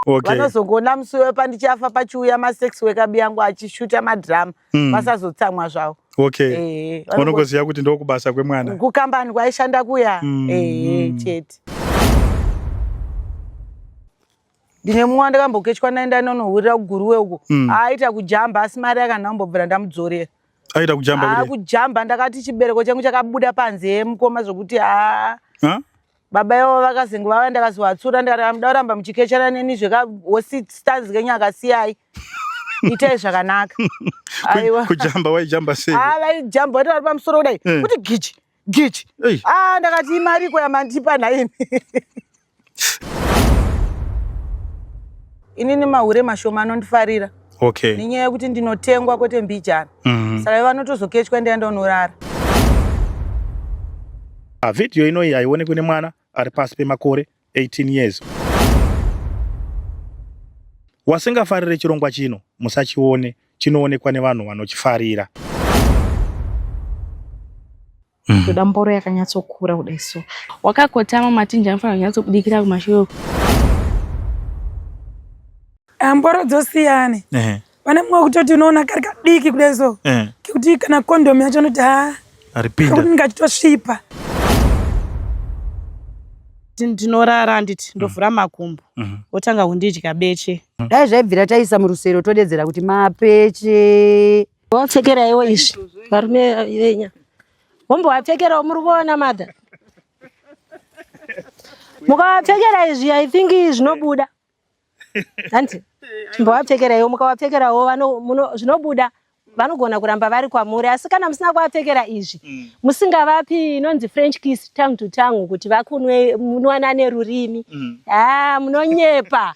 Okay. vanozongoona musi uya pandichafa pachiuya masex wekabi yangu achishuta madhirama Mm. vasazotsamwa zvavo Okay. Eh, vanongo- Unongoziva kuti ndokubasa kwemwana. kukambani kwaishanda kuya Mm, ehe mm. chete ndine mumwe wandakambokechwa naye ndanonohurira kuguruwe uko Mm. aita kujamba asi mari yakanhambobvira ndamudzorera Aita kujamba aa kudai. kujamba ndakati chibereko changu chakabuda panze mukoma zvekuti aa Huh? baba ivo vakazengu vava ndakazovatsura ndikati amuda kuramba muchikechana neni zvekaosistanzi kenyu akasiyai itai zvakanaka aiwa kujamba waijamba sei ah vaijamba wati vari pamusoro kudai eh. kuti gichi gichi ah ndakati imariko yamandipa nhaimi inini mahure mashoma anondifarira okay. nenyaya yekuti ndinotengwa kwete mbijana mm -hmm. saka vanotozokechwa ndaenda unorara ah, vhidhiyo inoyi haionekwi nemwana ari pasi pemakore 18 years wasingafarire chirongwa chino musachione chinoonekwa nevanhu vanochifarira Mm. Toda mboro yakanyatsokura kudai so. Wakakotama matinja anofanira kunyatsobudikira kumashure uko. Ah, mboro dzosiyane. Eh. Pane mumwe wekutoti unoona kari kadiki kudai so. Eh. Kekuti kana kondomu yacho unoti haa. Ah, Aripinda. Kekuti ndingachitosvipa. Ndinorara handiti ndovhura mm. makumbo. Mm-hmm. Wotanga kundidya beche. Mm. Dai zvaibvira taisa murusero todedzera kuti mapeche. Wapfekeraiwo izvi varume venya wombovapfekerawo muri kuona madha mukavapfekera izvi i think zvinobuda hanti mbovapfekeraiwo mukavapfekerawo zvinobuda vanogona kuramba vari kwamuri asi kana musina kuvapfekera izvi mm. musingavapi inonzi french kiss tang to tang kuti vakunwe munwana nerurimi mm. haa munonyepa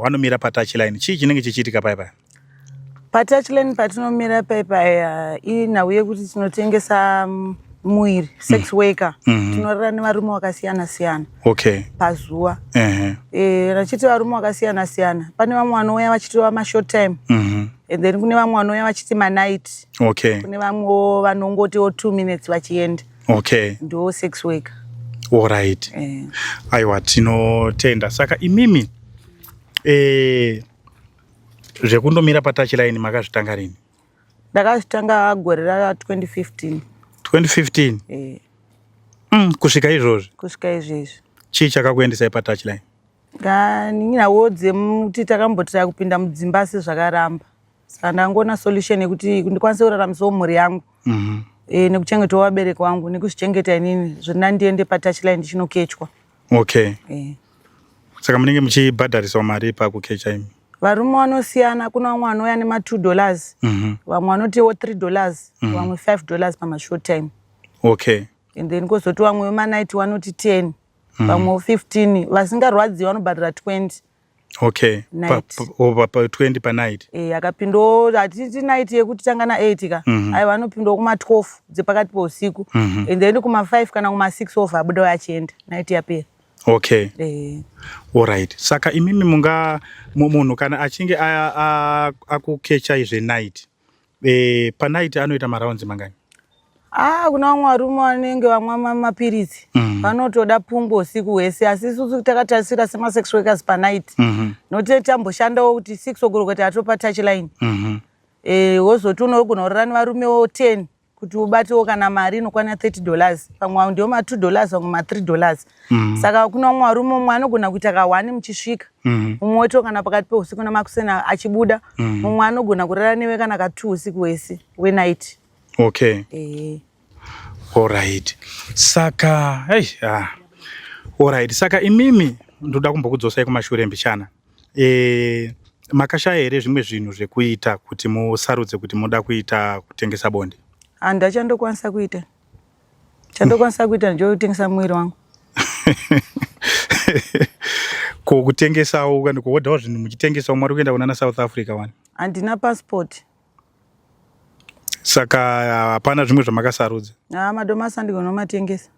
wanomira patouchline chii chinenge chichiitika pai paya patouchline patinomira pai paya inhau yekuti tinotengesa mm, muiri mm. sex worker mm -hmm. tinorara nevarume vakasiyana siyana okay. pazuva uh -huh. e, rachiti varume vakasiyana siyana pane vamwe vanouya vachitova mashort time mm -hmm. and then kune vamwe vanouya vachiti manight okay. kune vamwewo vanongotiwo two minutes vachienda okay ndo sex worker all right eh. aiwa tinotenda saka imimi eh zvekundomira patouch line makazvitanga rini ndakazvitanga gore ra 2015 2015 eh mm, kusvika izvozvi kusvika izvezvi chii chakakuendesai patouch line ndaninawo dzemti takamboti takupinda mudzimba asi zvakaramba saka ndangoona solution yekuti ndikwanise kuraramisawo mhuri yangu mm -hmm. e, eh, nekuchengetawo vabereki wangu nekuzvichengeta inini zvina ndiende patouchline ndichinokechwa okay e. saka munenge muchibhadhariswa mari pakukecha imi varume vanosiyana kuna vamwe vanouya nematwo dollars mm -hmm. vamwe vanotiwo three dollars mm -hmm. vamwe five dollars pamashort time okay and then kozoti vamwe vemanight vanoti ten mm -hmm. vamwe fifteen vasingarwadziwi vanobhadhara twenty okay pa20 panight e, eh, akapindawo hatiti night yekuti tanga na8 ka mm -hmm. aiwa anopindawo kuma12 dzepakati peusiku mm -hmm. and then kuma5 kana kuma6 of abuda uye achienda night yapera okay e. allright saka imimi munga munhu kana achinge akukecha izve night Eh, panaiti anoita marounds mangani? Ah, kuna vamwe varume vanenge vamwa mapiritsi mm. vanotoda pungwa usiku hwese asi isusu takatarisira semasex workers panight mm -hmm. note tamboshandawo kuti six ogorokota atopa touch line mm -hmm. e, wozoti unogona kurara nevarumewo ten kuti ubatewo kana mari inokwana 30 dollars pamwe ndiwo ma 2 dollars pamwe ma 3 dollars mm. saka kuna umwe arume umwe anogona kuita kahwani muchisvika mm. umwe wetiwo kana pakati peusiku namakusena achibuda mm. umwe anogona kurara newe kana ka two usiku wese wenight okay e. allright saka hey, ah. allright saka imimi ndoda kumbokudzosai kumashure mbichana e, makashaya here zvimwe zvinhu zvekuita kuti musarudze kuti moda kuita kutengesa bonde handi achandokwanisa kuita chandokwanisa kuita ndichotengesa mwiri wangu ko kutengesawo kuodawo zvinhu muchitengesawo mwari kuenda kunana south africa wani handina passport saka hapana zvimwe zvamakasarudza ah, madomasi andigona kumatengesa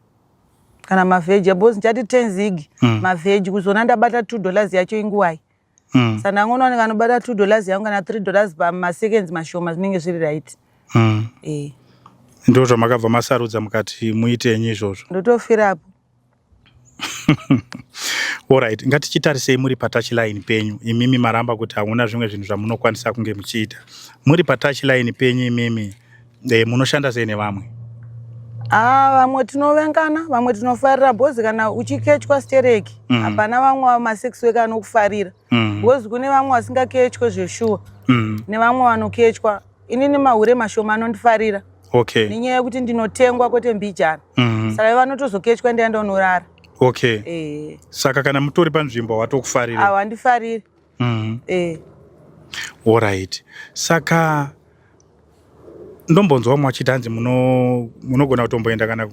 kana mavegetables ndichati ten zig mm. maveg kuzona ndabata two dollars yacho inguwai mm. sa ndangoona unenge anobata two dollars yangu kana three dollars pamaseconds mashoma zvinenge zviri right mm. e. Eh. ndo zvamakabva masarudza mukati muitenyi izvozvo ndotofirapo Alright, ngatichitarisei muri patouchline penyu imimi maramba kuti hamuna zvimwe zvinhu zvamunokwanisa kunge muchiita. Muri patouchline penyu imimi eh, munoshanda sei nevamwe? Ah, vamwe tinovengana, vamwe tinofarira bhozi kana uchikechwa stereki. Mhm. Hapana vamwe ma sex worker anokufarira. mm. because kune vamwe vasingakechwe zveshuwa mm. nevamwe vanokechwa ini nemahure mashoma anondifarira okay. nenyaya yekuti ndinotengwa kwete mbijana mm. saka vanotozokechwa ndiya ndonorara okay. e. saka kana mutori panzvimbo watokufariri awa ndifariri mm. e. Eh. orit saka ndombonzwa vamwe vachiti hanzi munogona kutomboenda kana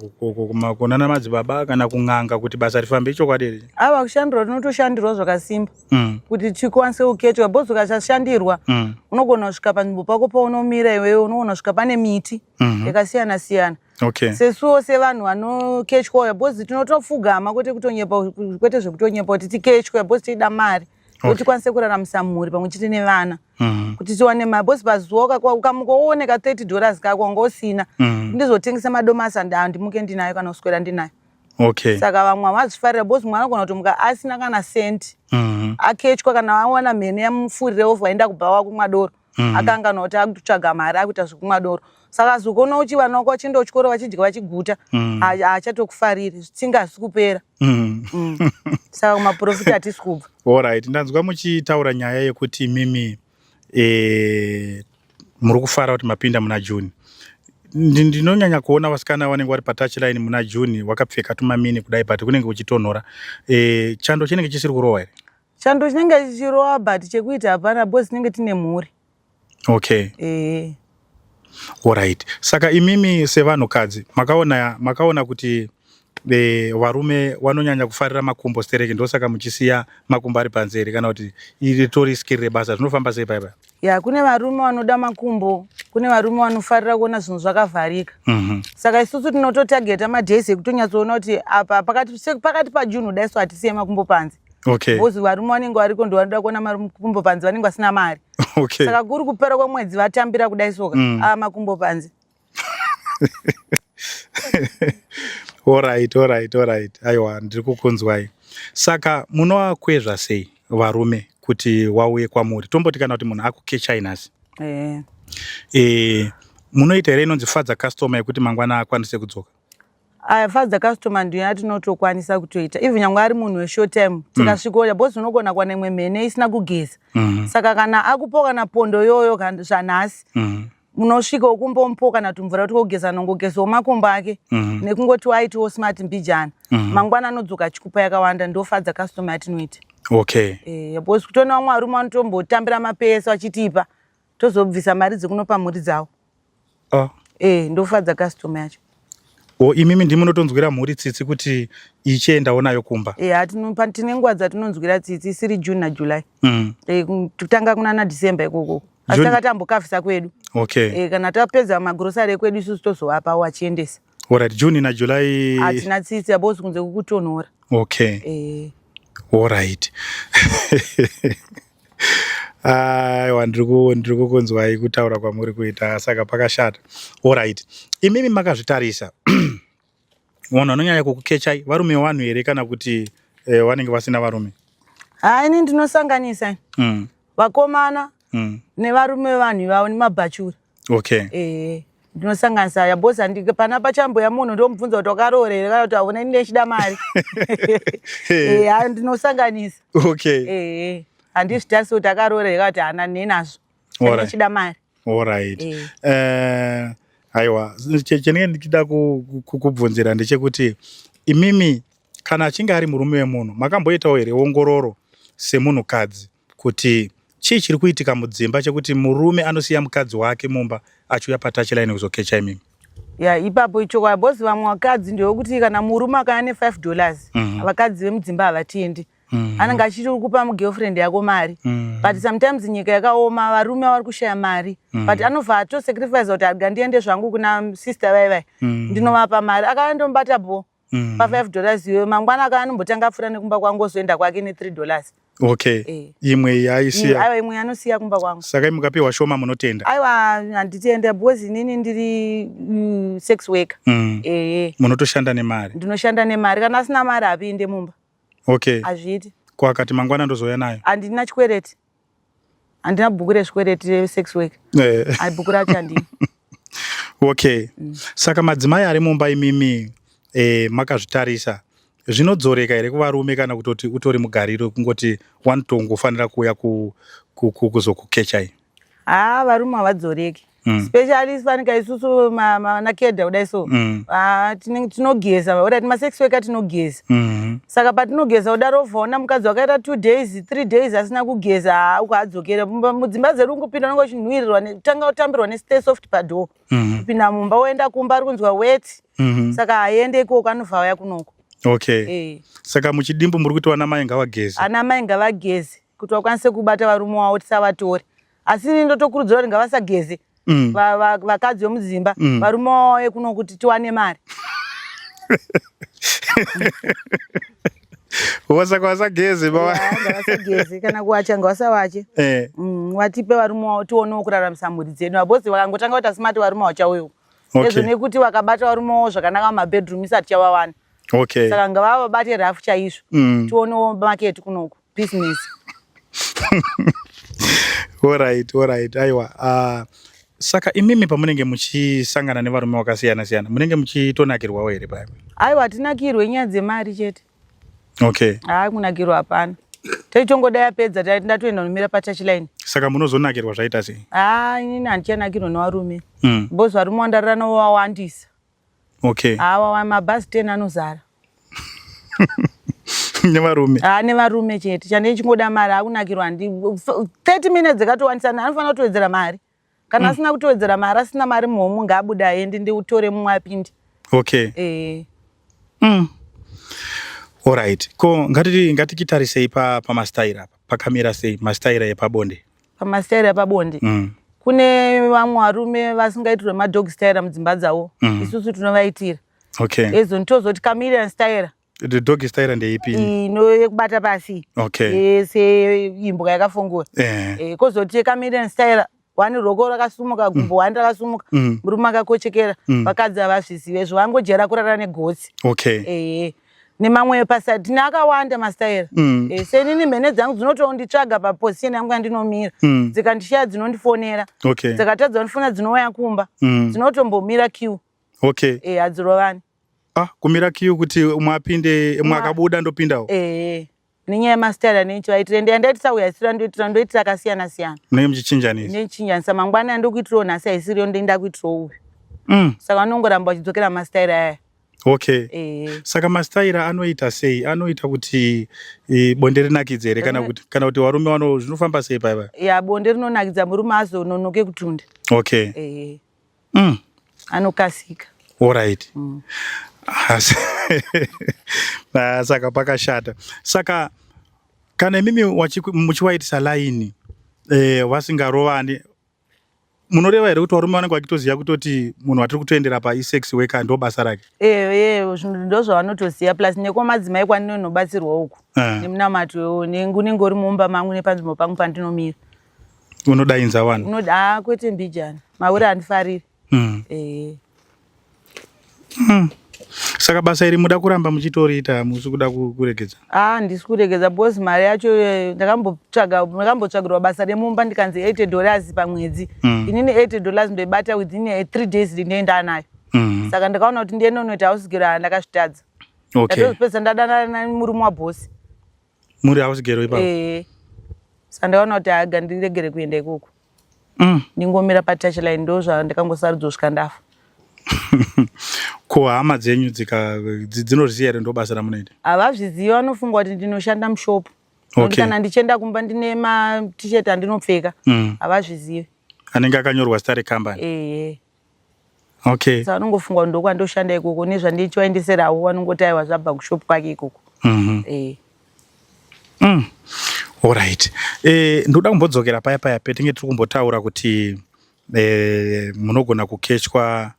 kunana madzibaba kana kun'anga kuti basa rifambe ichokwadi here ava kushandirwa tinotoshandirwa zvakasimba mm. kuti tikwanise kuketwa bos ukasashandirwa mm. unogona kusvika panzvimbo pako paunomira iwewe unogona kusvika pane miti mm-hmm. yakasiyana siyana okay. sesuwo sevanhu vanokechwa uya bos tinotofugama kwete kutonyepa kwete zvekutonyepa kuti tikechwa bos tichida mari kuti okay. tikwanise kuraramisa mhuri pamwe chete nevana mm -hmm. kuti tiwane mari bcause pazuva ukamuka wooneka 30 dollars kako wanga usina mm -hmm. ndizotengesa madomasi andaa ndimuke ndinayo kana kuswera ndinayo okay. saka vamwe havazvifarira bcause mwana agona kutomuka asina kana senti mm -hmm. akechwa kana awana mhene yamufurire ofa aenda kubhawa kumwa doro mm. akanganwa kuti akutsvaga mari akuita zvekumwa doro saka zvokuona uchi vana wako vachienda kuchikoro vachidya vachiguta mm. haachatokufariri zvitsinga hazvisi kupera mm. mm. saka kumaprofiti hatisi kubva orit ndanzwa muchitaura nyaya yekuti mimi e, muri kufara kuti mapinda muna june ndinonyanya kuona vasikana vanenge vari patachline muna june wakapfeka tumamini kudai but kunenge kuchitonhora e, chando chinenge chisiri kurohwa here Chando chinenge chichirova but chekuita hapana because tinenge tine mhuri. Okay. Eh. Alright. Saka imimi sevanhukadzi makaona makaona kuti e, varume vanonyanya kufarira makumbo stereki ndosaka muchisiya makumbo ari panze here kana kuti ritori skiri rebasa zvinofamba sei paipa ya kune varume vanoda makumbo kune varume vanofarira kuona zvinhu zvakavharika mm -hmm. saka isusu tinototageta madays ekutonyatsoona kuti apa pakati, pakati pajunhu daiso hatisiye makumbo panze okay. bcause varume vanenge variko ndo vanoda kuona makumbo panze vanenge vasina mari okay. saka kuri kupera kwemwedzi vatambira kudai soka mm. aa makumbo panze orit orit orit aiwa ndiri kukunzwai saka munovakwezva sei varume kuti wauye kwamuri tomboti kana kuti munhu akukechai nhasi e, munoita here inonzi fadza customer yekuti mangwana akwanise kudzoka aya fadza customer ndiyo yatinotokwanisa kutoita even nyangwe ari munhu weshort time mm. tikasvikoya bhozi unogona kuwana imwe mhene isina kugeza mm-hmm. saka kana akupo kana pondo yoyo zvanhasi mm-hmm. munosvika ukumbomupo kana tumvura kuti kogeza nongogezawo makumbo ake mm-hmm. nekungoti waitiwo smart mbijana mangwana anodzoka achikupa yakawanda ndofadza customer yatinoita okay e, bhozi kutoona vamwe varume vanotombotambira mapesa vachitipa tozobvisa mari dzekunopa mhuri dzavo Ah. Eh, ndofadza customer yacho. O imimi ndimi munotonzwira mhuri tsitsi kuti ichiendawo nayo kumba. Eh, atinopa tine nguva dzatinonzwira tsitsi isiri June na July. Mm. Eh, kutanga kuna na December ikoko. Asi takatambokafisa kwedu. Okay. Eh, kana tapedza magrocery ekwedu isusu tozovapa wachiendesa. Alright, June na July. Atina tsitsi abose kunze kukutonhora. Okay. Eh. Alright. aiwa ndiri kukunzwai kutaura kwamuri kuita saka pakashata orit imimi makazvitarisa vanhu vanonyanya kukukechai varume vanhu here kana kuti eh, vanenge vasina varume ha ini ndinosanganisa mm. vakomana mm. nevarume vanhu ivavo nemabhachura okay eh ndinosanganisa ya boss andike pana pachambo ya munhu ndomubvunza kuti wakaroora here kana kuti hauna ini ndechida mari eh ha ndinosanganisa okay eh handizvitarisi kuti akaroora here kana kuti hana nenazvo ndechida mari all right eh, eh aiwa chenenge ndichida kukubvunzira ndechekuti imimi kana achinge ari murume wemunhu makamboitawo here ongororo semunhukadzi kuti chii chiri kuitika mudzimba chekuti murume anosiya mukadzi wake mumba achiuya patachline kuzokecha imimi ya yeah, ipapo ichokwadi bcause vamwe vakadzi ndewekuti kana murume akaya ne five dollars mm -hmm. vakadzi vemudzimba havatiendi mm. anenge achiti uri kupa mugirlfriend yako mari mm. but sometimes nyika yakaoma varume vari kushaya mari mm. but anobva atosacrifice kuti agandiende zvangu kuna sister vai vai mm. ndinovapa mari akava ndomubata bho mm. pa five dollars iyoyo mangwana akaya anombotanga apfuura nekumba kwangu ozoenda kwake ne three dollars okay eh. imwe yaisiya aiwa imwe anosiya kumba kwangu saka mukapiwa shoma munotenda aiwa handitenda because inini ndiri mm, sex worker mm. ehe munotoshanda nemari ndinoshanda nemari kana asina mari hapinde mumba okay hazviiti kwakati mangwana ndozouya nayo handina chikwereti handina bhuku rezvikwereti resex work eh. ai bhuku racho handii okay mm. saka madzimai ari mumba imimi eh, makazvitarisa zvinodzoreka here kuvarume kana kutoti utori mugariro kungoti wani tongofanira kuuya kuzokukechai haa varume havadzoreki Mm. especially fanika isusu vanakedha kudai so mm. ah, tinogeza orit masex weka tinogeza mm-hmm. saka patinogeza kudaro uvaona mukadzi wakaita two days three days asina kugeza ukaadzokera mudzimba dzedu ungopinda unenge uchinhuirirwa tanga utambirwa nestay soft padoo mm-hmm. kupinda mumba woenda kumba ari kunzwa wet mm-hmm. saka haiende ikoko anobva auya kunoko okay eh. saka muchidimbu muri kuti vana mai ngavageze ana mai ngavageze kuti vakwanise kubata varume wavo tisavatori asi ini ndotokurudzira kuti ngavasageze mm. vakadzi vemudzimba mm. varume wauye kuno kuti tiwane mari wasaka wasageze bavasageze kana kuwacha ngawasavache eh. mm, watipe varume wavo tionewo kuraramisa mhuri dzedu vabhosi vakangotanga kuti asimati varume wachauyo ezvo nekuti vakabata varume wavo zvakanaka mumabedroom isati chavawana okay saka ngavavabate rafu chaizvo mm. tionewo maketi kunoku business orit orit aiwa uh, ah, saka imimi pamunenge muchisangana nevarume vakasiyana siyana munenge muchitonakirwawo here paya aiwa hatinakirwe nyaya dzemari chete okay haa kunakirwa hapana taitongoda yapedza tai ndatoenda nomira patachline saka munozonakirwa zvaita sei haa inini handichanakirwa nevarume mm. bcause varume wandarira novo wawandisa okay awa mabhazi 10 anozara nevarume haa nevarume chete chane chingoda mari akunakirwa handi 30 minutes dzikatowanisana anofanira kutowedzera mari kana mm. asina kutowedzera mari asina mari muhomu ngaabude aendi ndiutore mumwe apinde okay e. mm. orit ko ngatikitarisa ngati ipa pamastaira apa pakamira sei mastaira epabonde pamastaira epabonde mm. kune vamwe varume vasingaitirwe madog staira mudzimba dzavo mm. isusu tinovaitira okay. ezoni tozoti camilian staira the dog staira ndeipi ino yekubata pasi okay. e, seimbwa yakafungura eh. e, kozoti camilian staira wani roko rakasumuka gumbo mm. wani rakasumuka mm. murume akakochekera mm. vakadzi havazvizive zvo vangojera kurara negotsi okay. e, e. nemamwe paside tine akawanda mastaira mm. e, eh, senini mhene dzangu dzinotonditsvaga paposition yangu yandinomira mm. dzikandishiya dzinondifonera okay. dzikatadza ndifona dzinouya kumba mm. dzinotombomira q okay. e, hadzirovani ah, kumira q kuti umwe apinde umwe akabuda ndopindawo e. nenyaya yemastyle anencho aitira ende yandaitisa uya isiro yandoitira ndoitira akasiyana siyana munenge muchichinjanisa ndichinjanisa mangwana yandokuitirawo nhasi aisiriyo ndoinda kuitirawo uyu mm. saka vanongoramba vachidzokera mastyle aya okay e. saka mastyle anoita sei anoita kuti e, bonde rinakidze here kana kuti kana kuti varume vano zvinofamba sei paiva ya bonde rinonakidza murume azononoke kutunda okay e. mm. anokasika orit mm. saka pakashata saka kana imimi muchiwaitisa laini eh, vasingarovani munoreva here kuti varume vanenge vachitoziva kutoti munhu watiri kutoendera paisex weka ndo basa rake ee ndo zvavanotoziva plus nekwamadzimai kwandinonobatsirwa uku eh. nemunamato unenge uri mumba mangu nepanzvimbo pangu pandinomira unodainza vanhu unoda ah, kwete mbijana mahure andifariri mm. eh. mm. saka basa iri muda kuramba muchitoriita musi kuda kuregedza ah, ndisi kuregedza bos mari yacho eh, ndakambotsvagirwa basa remumba ndikanzi 8 dollars pamwedzi mm. inini 8 dollars ndoibata within eh, three days ndinoenda nayo mm. saka ndakaona kuti ndienonoita ausigiro ndakazvitadza okay. ndatozopedza ndadanana murume wabhosi muri hausgero ipapo eh sandaona kuti aga ndiregere kuenda ikoko mm. ndingomira patach line ndo zvandikangosarudzo svika ndafa ko hama dzenyu dzinozviziva here ndo basa ramunoita havazvizivi vanofunga kuti ndinoshanda mushopu okay. kana ndichienda kumba ndine matishet andinopfeka mm. havazvizivi mm. anenge akanyorwa stare company ehe okay so anongofunga kuti ndokwandoshanda ikoko nezvandichivaendeserawo vanongoti aiwa zvabva kushop kwake ikoko mm -hmm. eh. mm. Alright. Eh, ndoda kumbodzokera paya paya petinge tiri kumbotaura kuti eh, munogona kukechwa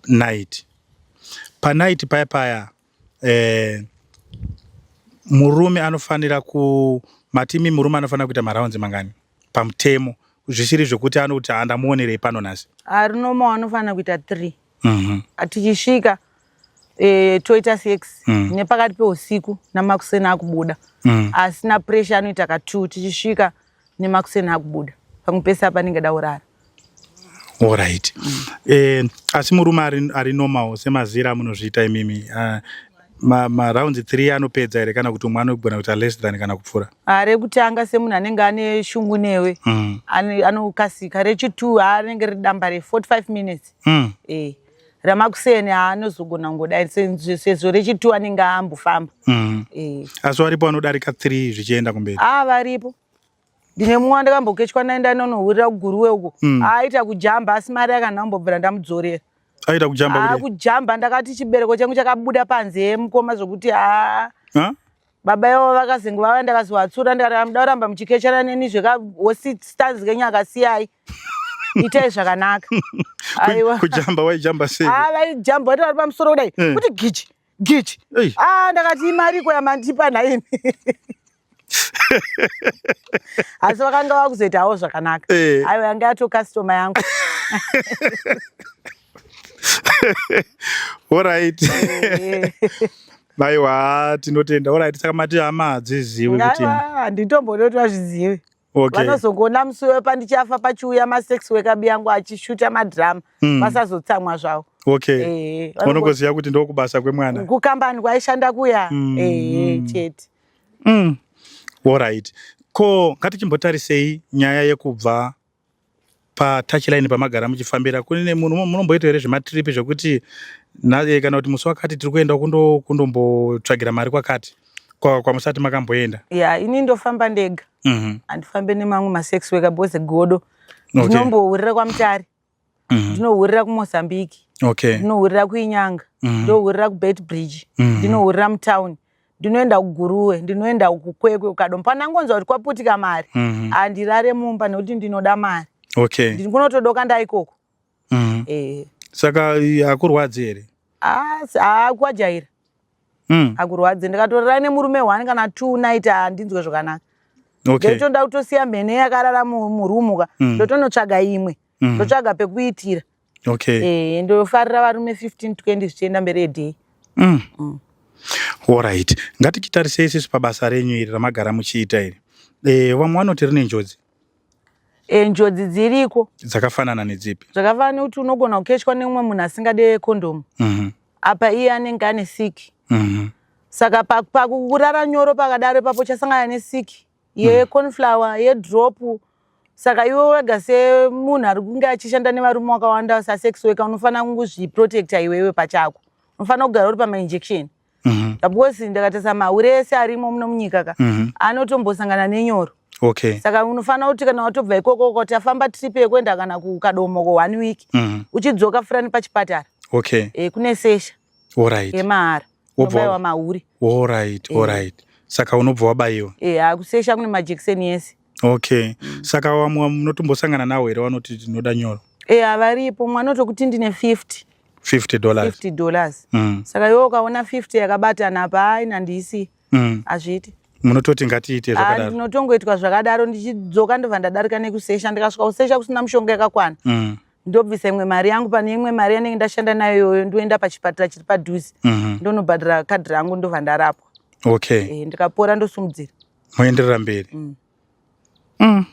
night. Panight paya paya eh, murume anofanira ku matimi murume anofanira kuita maraunzi mangani pamutemo zvisiri zvekuti anokuti andamuonerei pano nhasi ari noma anofanira kuita three mhm. tichisvika e, toita sex mm. nepakati peusiku namakuseni akubuda mm. asina pressure anoita ka two tichisvika nemakuseni akubuda pamwe pese apa anenge da urara orit mm. eh, asi murume ari, ari normal semazira amunozviita imimi uh, ah, marounds ma three anopedza here kana kuti umwe anogona kuita less than kana kupfuura ah, rekutanga semunhu anenge ane shungu newe mm. anokasika rechitwo anenge ridamba re 45 minutes mm. eh. ramakuseni anozogona kungodai sezvo rechitu anenge ambofamba mm. eh. asi varipo vanodarika three zvichienda kumberi a ah, varipo ndine mumwe wandakambokechwa naye ndanonohurira kuguruwe uko mm. aita kujamba asi mari yakanambobvira ndamudzorera aita kujamba ah, kujamba ndakati chibereko changu chakabuda panze mukoma zvokuti a ah. baba ivo vakazengu vava ndakazovatsura ndikati amuda kuramba muchikechana neni zvekahosi stanzi kenyu akasiyai itai zvakanaka aiwa kujamba waijamba sei ah vaijamba wati vari pamusoro kudai eh. kuti gichi gichi ah ndakati imariko yamandipa nhaimi asi vakanga vakuzoitawo zvakanaka eh. aiwa yanga yato customer yangu orit Aiwa tinotenda orit saka mati hama hadzizivi kuti handitomboda kuti vazvizive okay. vanozongoona musi wepandichafa pachiuya masex wekabi yangu achishuta madhirama mm. vasazotsamwa zvavo okay. e, unongoziva kuti ndokubasa kwemwana kukambani kwaishanda kuya mm. e, chete mm. orit ko ngatichimbotarisei nyaya yekubva patouch line pamagara muchifambira kune munhu munomboita here zvematrip zvekuti eh, kana kuti musi wakati tiri kuenda kundombotsvagira mari kwakati kwamusati makamboenda ya ini ndofamba ndega mhm. handifambe nemamwe masex weka bose godo ndinombowurira kwamutari mm. ndinohurira kumozambique okay. ndinohurira kuinyanga mm. ndohurira kubet bridge mm. ndinohurira mutown ndinoenda kuguruwe ndinoenda kukwekwe ukadom panangonzwa kuti kwaputika mari mm -hmm. andirare mumba nekuti ndinoda mari okay. ndikunotodoka ndaikoko mm -hmm. eh. saka hakurwadzi here akuajaira mm. akurwadzi ndikatorara nemurume one kana two night handinzwe zvakanaka okay. ndotonda kutosiya mhene yakarara murumu ka mm. ndotonotsvaga imwe mm. mm. ndotsvaga pekuitira okay. e, ndofarira varume 15 20 zvichienda mberi edhei mm. mm. orit ngatichitarisei sisi pabasa renyu iri ramagara muchiita iri e, vamwe vanoti rine njodzi e, njodzi dziriko dzakafanana nedzipi zvakafanana nekuti unogona kukeshwa neumwe munhu asingade kondomu mm -hmm. apa iye anenge ane siki mm -hmm. saka pakurara nyoro pakadaro ipapo chasangana nesiki yeconflower hmm. yedrop saka iwe wega semunhu ari kunge achishanda nevarume wakawanda sasex weka unofanira kungozviprotecta iwewe pachako unofanira kugara uri pamainjection mhm. because ndakatasa mahure ese arimo muno munyika ka mhm. anotombosangana nenyoro okay saka unofanira kuti kana watobva ikoko uka tafamba trip yekuenda kana kukadomo ko one week mhm. uchidzoka furani pachipatara okay e, kune sesha yemahara wobaiwa mahure orit orit eh. saka unobva wabaiwa e eh, akusesha kune majekiseni yese okay mm. saka wamwe munotombosangana nawo here vanoti tinoda nyoro e havaripo mumwe anotokuti ndine 50 50 dollars 50 dollars mm. saka yo ukaona 50 yakabatana apa hai nandiisi mm. hazviiti munototi ngatiite zvakadaro ah, ndinotongoitwa zvakadaro ndichidzoka ndobva ndadarika nekusesha ndikasvika kusesha kusina mushonga yakakwana mm. ndobvisa imwe mari yangu pane imwe mari yanenge ndashanda nayo iyoyo ndoenda pachipatara chiri padhuze mhm. ndonobhadhara kadhi rangu ndobva ndarapwa okay eh, ndikapora ndosumudzira moenderera mberi mm. mm.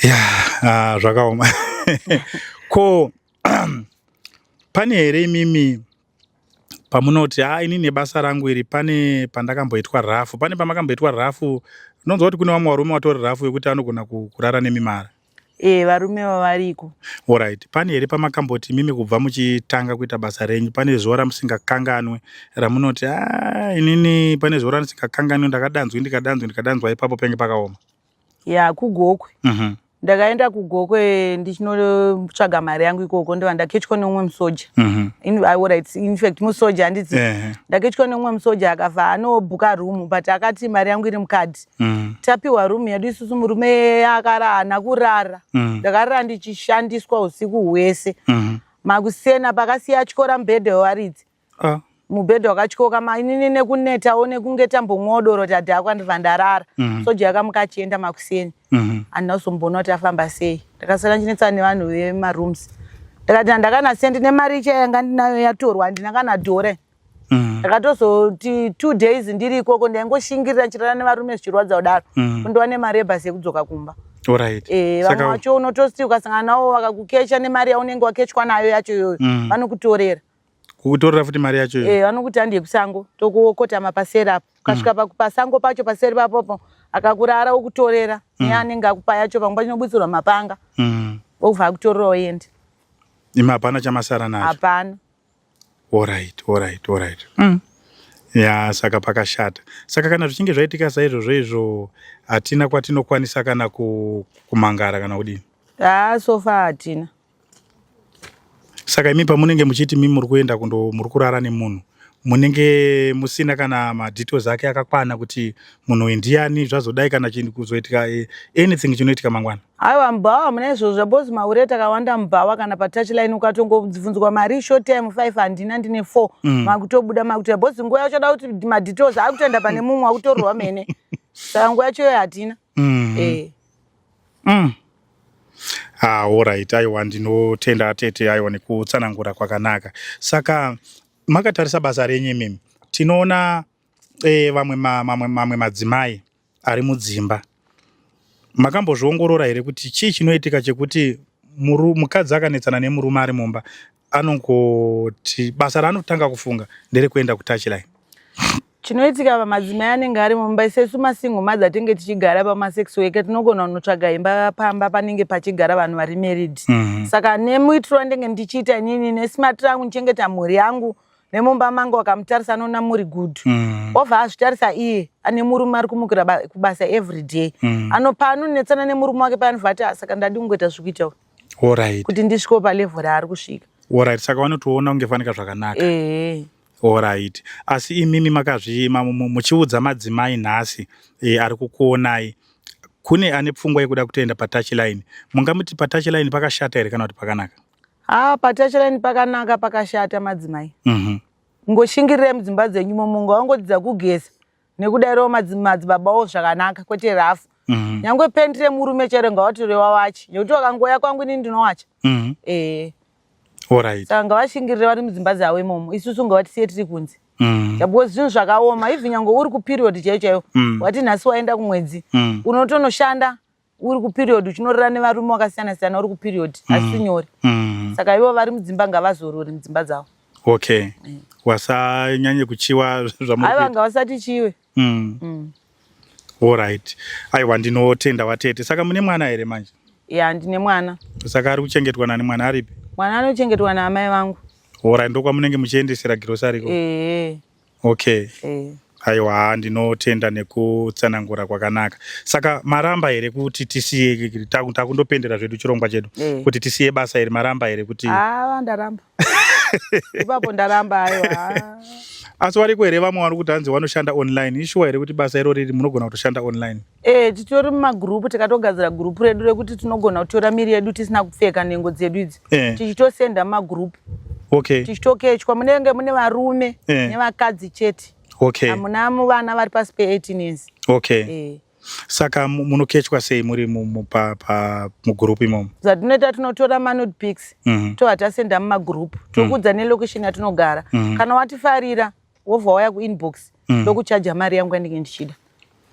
ya ah, zvakaoma ko pane here imimi pamunoti haa ini nebasa rangu iri pane pandakamboitwa rafu pane pamakamboitwa rafu ndonzwa kuti kune vamwe varume vatori rafu vekuti anogona kurara nemi mara e varume vavariko orit pane here pamakamboti mimi kubva muchitanga kuita basa renyu pane zuva ramusingakanganwe ramunoti a ah, inini pane zuva randisingakanganwe ndakadanzwi ndikadanzwi ndikadanzwa ipapo penge pakaoma ya kugokwe mm -hmm. ndakaenda kugokwe ndichinotsvaga mari yangu ikoko ndiva ndaketchwa neumwe musoja mm -hmm. infact musoja handiti yeah. ndaketchwa neumwe musoja akafa anobhuka room but akati mari yangu iri mukadi mm -hmm. tapiwa room yedu isusu murume akarana kurara mm -hmm. ndakarara ndichishandiswa usiku hwese mm -hmm. makusena pakasiya atyora mbhedha wewaridzi ah. mubhedha wakatyoka mainini nekunetawo nekunge tambomwawo doro tadhakwa ndibva ndarara mm -hmm. soja yakamuka achienda makuseni mm -hmm. andina kuzomboona kuti afamba sei ndakasara ndichinetsana nevanhu vemarooms ndikati handakanasiya ndine mari icha yanga ndinayo yatorwa handina kana dore mm. ndakatozoti two days ndiri ikoko ndaingoshingirira ndichirara nevarume zvichirwadza kudaro mm. kundova nemari yebhasi yekudzoka kumba eh, vamwe vacho unototi ukasangana navo vakakukecha nemari yaunenge wakechwa nayo yacho iyoyo mm. vanokutorera kukutorera futi mari yacho iyo eh vanokuti andiye kusango tokokotama paseri apo ukasvika mm. pasango pacho paseri papopo akakurara okutorera mm. ne anenge akupa yacho pamwe pachinobutsirwa mapanga mm. okubva akutorera oende imi hapana chamasara nacho hapana orit orit orit mm. ya saka pakashata saka kana zvichinge zvaitika saizvozvo izvo hatina kwatinokwanisa kana kumangara kana kudini haa sofa hatina Saka imi pamunenge muchiti mi muri kuenda kundo muri kurara nemunhu munenge musina kana madetails ake akakwana kuti munhu uyu ndiyani zvazodai kana chinhu kuzoitika eh, anything chinoitika mangwana aiwa mubhawa hamuna izvozvo zvabhozi mahure takawanda mubhawa kana patouchline ukatongobvunzwa mari ishort time five handina ndine four Mm. makutobuda makutoya bhozi nguva yacho da kuti madetails akutenda pane mumwe akutorwa mene saka nguva yacho iyoyo hatina mm. eh. mm. Ah, alright aiwa ndinotenda tete aiwa nekutsanangura kwakanaka saka makatarisa basa renyu imimi tinoona eh, vamwe ma, mamwe, mamwe madzimai ari mudzimba makambozviongorora here kuti chii chinoitika chekuti mukadzi akanetsana nemurume ari mumba anongoti basa raanotanga kufunga nderekuenda kutouchline chinoitika pamadzimai anenge ari mumba isesu masingle mother tinge tichigara pamasex weke tinogona kunotsvaga imba pamba panenge pachigara vanhu vari married mm -hmm. saka nemuitiro wandenge ndichiita inini nesmart rangu ndichengeta mhuri yangu nemumba mangu akamutarisa anoona muri good mm. ova azvitarisa iye ane murume ari kumukira kubasa every day mm. anopa anonetsana nemurume wake paanobva ati ah, saka ndadi kungoita zvikuita Alright. kuti ndisvikewo palevel raari kusvika Alright, saka vanotoona kunge fanika zvakanaka. ehe Alright. Asi imimi makazvi ma- mu- muchiudza madzimai nhasi eh, ari kukuonai kune ane pfungwa yekuda kutoenda patouch line. Mungamuti patouch line pakashata here kana kuti pakanaka? ha patachirani pakanaka pakashata madzimai Mhm. ngoshingirirai mudzimba dzenyu momo ngawangodzidza kugeza nekudairewo madzibabawo zvakanaka kwete rafu mhm. nyangwe pendi remurume chero ngavatorewa wachi nekuti wakangoya kwangu inini ndinowacha mhm. eh. saka ngavashingirire vari mudzimba dzavo imomo isusu ngavatisiye tiri kunze mhm. because zvinhu zvakaoma even nyangwe uri kuperiod chaiyo chaiyo wati nhasi waenda kumwedzi unotonoshanda uri kuperiod uchinorora nevarume wakasiyana siyana uri kuperiod mm. asi nyore mm. saka ivo vari mudzimba ngavazorori mudzimba dzavo okay mm. wasanyanye kuchiwa zvaiva ngavasati chiwe mm. mm. allright aiwa ndinotenda watete saka mune mwana here manje ya ndine mwana saka ari kuchengetwa nani mwana aripi mwana anochengetwa naamai vangu allright ndokwamunenge muchiendesera girosariko ehe Okay. Eh. Aiwa haa ndinotenda nekutsanangura kwakanaka. Saka maramba here kuti tisiye ikiki taku- takundopendera zvedu chirongwa chedu Eh. kuti tisiye basa iri maramba here kuti Ah, ndaramba. Ipapo ndaramba ayo. Ah. asi wariko here vamwe vari kuti hanzi wanoshanda online ishuwa here kuti basa irori iri munogona kutoshanda online Eh, titori mumagroup takatogadzira group redu rekuti tinogona kutora miri yedu tisina kupfeka nhengo dzedu idzi eh. tichitosenda mumagroup okay. tichitokechwa munenge mune varume eh. nevakadzi chete okay. hamuna vana vari pasi pe18 years okay. eh. saka munokechwa sei muri mugroup imomo zvatinoita tinotora manud pics mm -hmm. tovatasenda mumagroup tokudza mm -hmm. nelocation yatinogara mm -hmm. kana watifarira wobva waya kuinbox mm. ndokuchaja mari yangu yandinge ndichida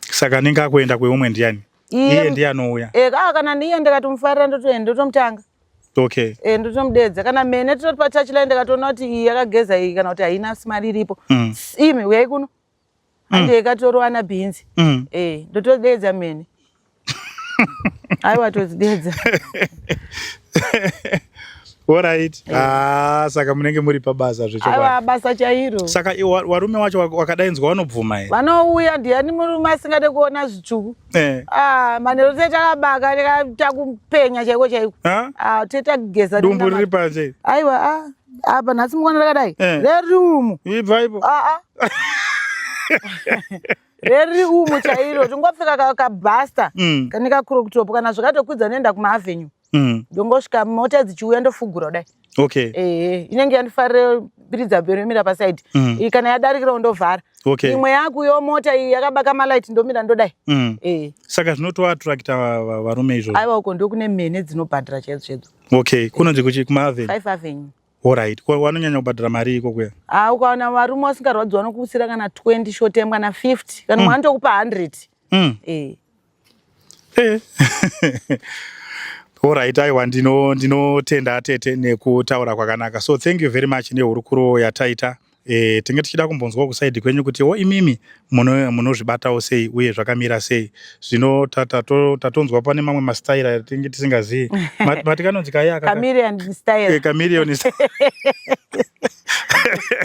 saka anenge akuenda kweumwe ndiani iye ndiye anouya e, ah, kana ndiye ndikatomufarira ndotoenda ndotomutanga okay e, eh, ndotomudeedza kana mene tototi pachachi lai ndikatoona kuti iyi yakageza iyi kana kuti haina mari iripo mm. imi uyai kuno mm. andiye ikatoroana bhinzi mm. e, ndotodeedza mene aiwa todzidedza orit eh. ah, saka munenge muri pabasa zvechoabasa chairo saka warume wacho wakadainzwa vanobvuma here vanouya ndiyani murume asingade kuona zvitsvuku eh. ah, manhero tetakabaka takupenya chaiko chaiko ah, tetakugeza dumbu riri panje aiwa apa nhasi mukona rakadai eh. rerumu ibvaipo reri umu chairo tingopfeka ka- kabhasta Mm. kane kacrop top kana zvakatokwidza noenda kumaavenue Mm. ndongosvika mota dzichiuya ndofugura kudai Okay. ehe inenge yandifarira piridza bhero yomira pasaidi Mm. iyi kana yadarikirawo ndovhara Okay. imwe yakuyo mota iyi yakabaka malight ndomira ndodai Mm. ehe Saka zvinotoattracta va- va- varume izvozvo. aiwa uko ndokune mhene dzinobhadhara chaidzo chaidzo Okay. Kunonzi kuchi kumaavenue. five avenue Alright, ko wanonyanya kubhadhara mari iko kuya? Ah, ukaona varume wasingarwadzi wanokuusira kana 20 short time kana 50 kana mm. wanotokupa 100. Mm. Eh. Eh. Alright, aiwa ndino ndinotenda tete nekutaura kwakanaka. So thank you very much nehurukuro yataita. e, tinge tichida kumbonzwawo kusaidi kwenyu kuti wo imimi munozvibatawo muno sei uye zvakamira sei zvino tatonzwa ta, ta, pane mamwe mastaira atinge tisingazivi mati kanonzi kaye akamirion eh,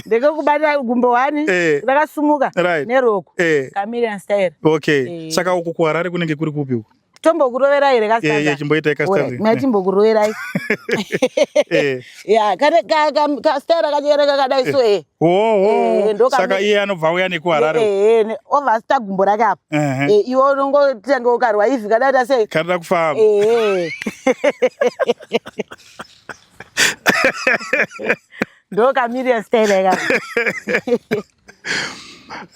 ndekekubata gumbo wani eh. rakasumuka neroko kamirion style okay eh. saka uku kuharare kunenge kuri kupi uku tombokuroverai here kastanzachimboitai kastanzi mna chimbokuroverai ya kane kastaira kachikere kakadai so e saka iye anobva uya nekuharare ova sita gumbo rake apo iwe unongotange ukarwa ivi kadaita sei kanoda kufamba ndokamiriya staira ikako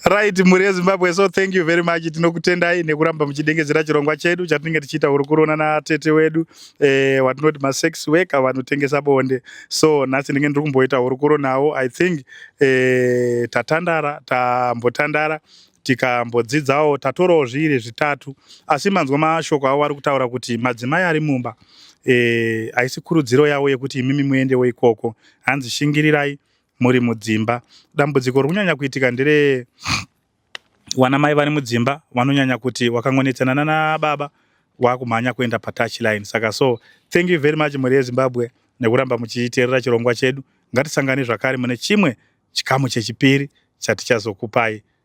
right mhuri yezimbabwe so thank you very much tinokutendai nekuramba muchidengedzera chirongwa chedu chatinenge tichiita hurukurona natete wedu eh, watinoti masex worker vanotengesa bonde so nhasi ndinge ndiri kumboita hurukuro nawo i think eh, tatandara tambotandara tikambodzidzawo tatorawo zviiri zvitatu asi manzwa mashoko avo vari kutaura kuti madzimai ari mumba eh, haisi kurudziro yavo yekuti imimi muendewo ikoko hanzi shingirirai muri mudzimba. Dambudziko rikunyanya kuitika ndere wana mai vari mudzimba vanonyanya kuti wakangonetsana nana baba wakumhanya kuenda patouch line. Saka so thank you very much mhuri yeZimbabwe nekuramba muchiterera chirongwa chedu. Ngatisangane zvakare mune chimwe chikamu chechipiri chatichazokupai.